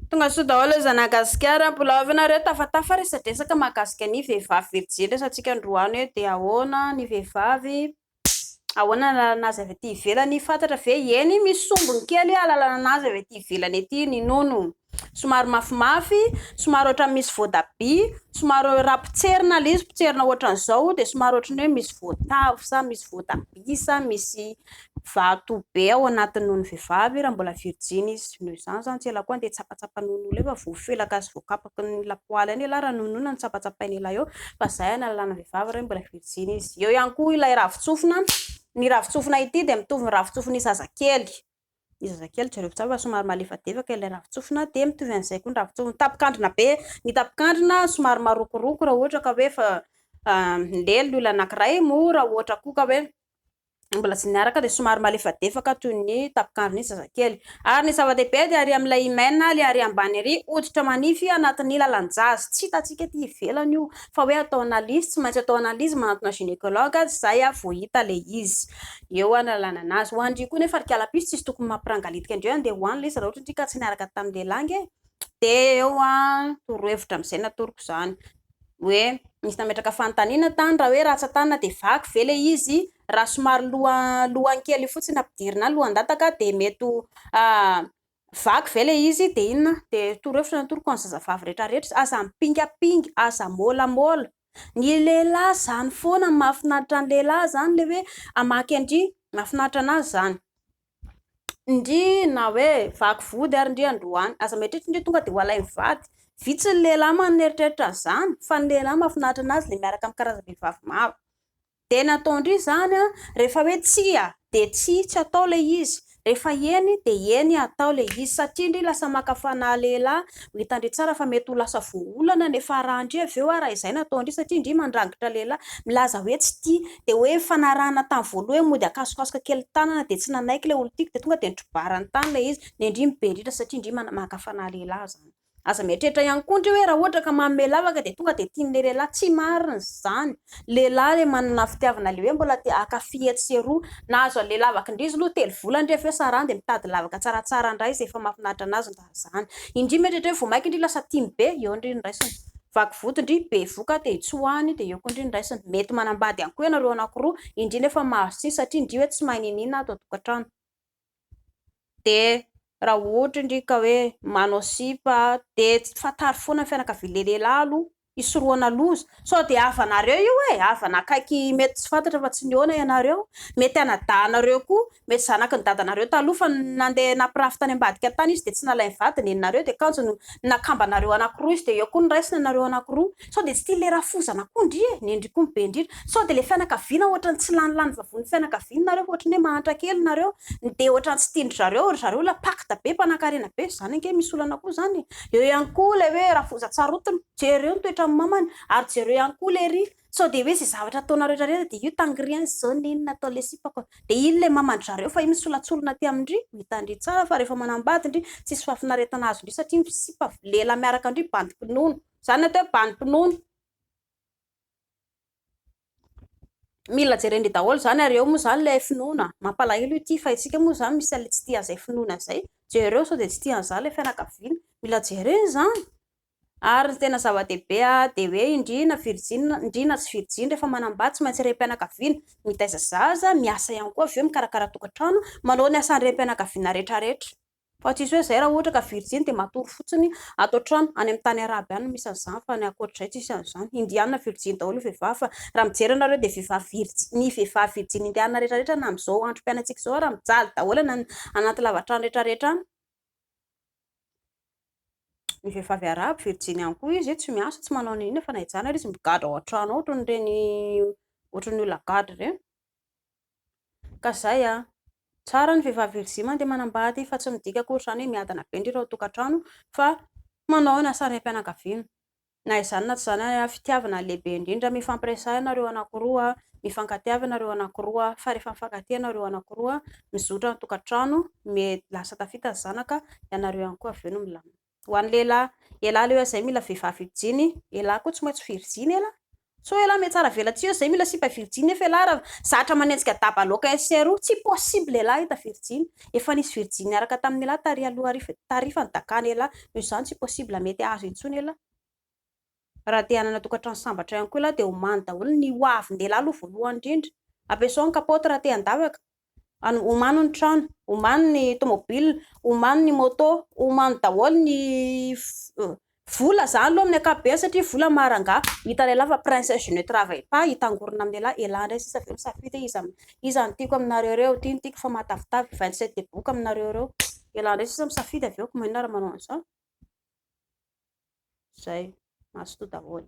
Tonga soa daholo zana gasikara mbola avy nareo tafatafa resadresaka mahakasika ny vehivavy ve tsy zendry resantsika androany hoe dia ahoana ny vehivavy ahoana ny alalana azy avy aty ivelany fantatra ve eny misy sombiny kely alalana anazy avy aty ivelany aty ny nono somary mafimafy somary ohatra misy voatabia somary raha potserina ilay izy potserina ohatran'izao dia somary ohatran'ny hoe misy voatavo sa misy voatabia sa misy vato be ao anatin'ny nono vehivavy raha mbola virjiny izy, noho izany izany tsy ela koa andeha tsapatsapa nono ela eo fa voafelaka sy voakapoka ny lapoaly any ialahy raha nononina no tsapatsapaina ela eo fa izay hanalana ny vehivavy raha mbola virjiny izy, eo ihany koa ilay ravin-tsofina, ny ravin-tsofina ity dia mitovy ny ravin-tsofin'ny zazakely, ny zazakely jereo tsara fa somary malefadefaka ilay ravin-tsofina dia mitovy an'izay koa ny ravin-tsofina, ny tapin-kandrina be, ny tapin-kandrina somary marokoroko raha ohatra ka hoe efa lelo ny olona anankiray moa raha ohatra koa ka hoe mbola tsy niaraka dia somary malefadefaka toy ny tapin-kandrin'ny zazakely. Ary ny zava-dehibe dia ary amin'ilay hymen, ilay ary ambany ary, hoditra manify anatin'ny lalan-jazo. Tsy hitantsika ety ivelany io. Fa hoe atao analyse, tsy maintsy atao analyse, manantona gynécologue aza izahay vao hita ilay izy. Eo ary ny alalana azy. Ho an-dry koa nefa ry kalapisy tsisy tokony mampirangalitika an-dry hoe andeha ho any ilay izy raha ohatra an-dry ka tsy niaraka tamin'ny lehilahy ange. Dia eo torohevitra amin'izay natoroko izany. hoe misy nametraka fanontaniana tany raha hoe ratsan-tanana dia vaky ve ilay izy, raha somary lohany kely fotsiny ampidirina any, lohan-dataka dia mety ho vaky ve ilay izy dia inona dia toro hevitra no atoroko ho an'ny zazavavy rehetrarehetra, aza mipingampinga, aza môlamôla, ny lehilahy izany foana no mahafinaritra ny lehilahy izany ilay hoe hamaky an-dry mahafinaritra an'azy izany. Ndry na hoe vaky vody ary ndry androany. Aza mieritreritra ndry tonga dia ho alain'ny vady. Vitsy ny lehilahy manana eritreritra an'izany fa ny lehilahy mahafinaritra anazy ilay miaraka amin'ny karazam-behivavy maro. Dia ny atao ndry izany rehefa hoe tsia dia tsia, tsy atao ilay izy, rehefa eny dia eny atao ilay izy satria ndry lasa maka fanahy lehilahy. Ho hitandry tsara fa mety ho lasa voaolana ny fiaraha-ndry avy eo raha izay no atao ndry satria ndry mandrangitra lehilahy milaza hoe tsy tia dia hoe nifanarahana tamin'ny voalohany mody akasokasoka kely ny tanana dia tsy nanaiky ilay olon-tiako dia tonga dia nitrobarany tany ilay izy dia indry ny be ritra satria indry maka fanahy lehilahy izany. Aza mieritreritra ihany koa indry hoe raha ohatra ka manome lavaka dia tonga dia tian'ilay lehilahy, tsy marina izany, lehilahy ilay manana fitiavana ilay hoe mbola te hankafy etsy sy eroa, nahazo an'ilay lavaka indry izy aloha telo volana indry avy eo sarahany dia mitady lavaka tsaratsara indray izay efa mahafinaritra an'azy ny. Raha zany. Indry mety ohatra hoe vao maika indry lasa tim be, eo indry ny raisiny. Vaky vody indry bevoka dia tsoahiny dia eo koa indry ny raisiny. Mety manambady ihany koa ianareo anankiroa, indry nefa mahazo tsihy satria indry hoe tsy mahay niniana ato an-tokantrano. Dia raha ohatra indry ka hoe manao sipa dia fantaro foana ny fianakavian'ilay lehilahy aloha hisorohana loza. Sao dia havanareo io e! Havana akaiky mety tsy fantatra fa tsy nihaona ianareo. Mety anadahinareo koa. Mety zanaky ny dadanareo taloha fa nandeha nampirafy tany ambadika tany izy dia tsy nalain'ny vady neninareo dia kanjo no nakambanareo anankiroa izy dia eo koa no raisina nareo anankiroa. Sao dia tsy tian'ilay rafozana koa ndry e! Nendry koa ny be indrindra. Sao dia ilay fianakaviana ohatran'ny tsy lany lany vavon'ny fianakaviany nareo fa ohatran'ny hoe mahantra kely nareo. Ny dia ohatran'ny tsy tian-dry zareo ry zareo ilay pacte be mpanankarena be. Izany ange misy olana koa izany e! Eo ihany koa ilay hoe Rafoza Tsarotina, jereo ny toetran'ny mamany ary jereo ihany koa lery sao dia hoe izay zavatra ataonareo retraretra dia io tany rien zone iny natao le sipako dia iny le mamandry zareo fa io misolatsolona aty amindry mitandry tsara fa rehefa manambady ndry tsisy fahafinaretana azondry satria misipa lehilahy miaraka ndry bandy mpinono zany atao hoe bandy mpinono Mila jerendry daholo izany ary eo moa izany ilay finoana, mampalahelo ity fa isika moa izany misy an'ilay tsy tia an'izay finoana izay, jereo sao dia tsy tia an'izany ilay fianakaviana, mila jerena izany, ary ny tena zava-dehibe dia hoe indrina virjiny, indrina tsy virjiny rehefa manambady tsy maintsy rem-pianakaviana, mitaiza zaza, miasa ihany koa avy eo mikarakara tokantrano, manao ny asan'ny rem-pianakaviana rehetra rehetra. Fa tsisy hoe zay raha ohatra ka virjiny dia matory fotsiny ato an-trano, any amin'ny tany arabo ihany no misy an'izany fa ny ankoatr'izay tsisy an'izany, indiana virjiny daholo ny vehivavy fa raha mijery ianareo dia vehivavy virjiny, ny vehivavy virjiny indiana rehetrarehetra any amin'izao androm-piainantsika izao ary mijaly daholo any anaty lavatrano rehetrarehetra any, ny vehivavy arabo virjiny ihany koa izy, tsy miasa tsy manao n'inona fa na hijanona ary izy migadra ao an-trano ao ohatran'ireny ohatran'ny olona gadra ireny. Ka zay an! Tsara ny vehivavy virjia mandeha manambady fa tsy midika akory izany hoe miadana be ny ray ao an-tokantrano fa manao ny asany raim-pianakaviana. Na izany na tsy izany ary an! Fitiavana no lehibe indrindra, mifampiresaha ianareo anankiroa, mifankatia avy ianareo anankiroa fa rehefa mifankatia ianareo anankiroa, mizotra ny tokantrano, lasa tafita ny zanaka, ianareo ihany koa avy eo no milamina. Ho an'ny lehilahy, elah leo zay mila vehivavy virjiny, elah koa tsy maintsy virjiny elah, sao elah mihatsara vela tsy eo zay mila sipa virjiny nefa elah ra zatra manenjika daba loka SRO tsy possible elah hita virjiny, efa nisy virjiny niaraka tamin'ny elah tary aloha tarifa ny dakany elah noho izany tsy possible mety ahazo intsony elah, ra te hanana tokantrano sambatra ihany koa elah dia homany daholo ny hoavin'ny lehilahy aloha voalohany indrindra, ampiasao ny kapaoty ra te handavaka, Any omano ny trano, omano ny tomobil, omano ny moto, omano daholo ny vola zany aloha amin'ny ankapobeny satria vola maharangaha, hita lehilahy fa princesse je ne travaille pas hitangorona amin'ny lehilahy elah indray sisa ve misafidy hoe iza iza no tiako aminareo ireo, ity no tiako fa mahatavitavy, vingt sept des bouc aminareo ireo, elah indray sisa misafidy avy eo ko maninona raha manao an'izao, zay, mazotoa daholo.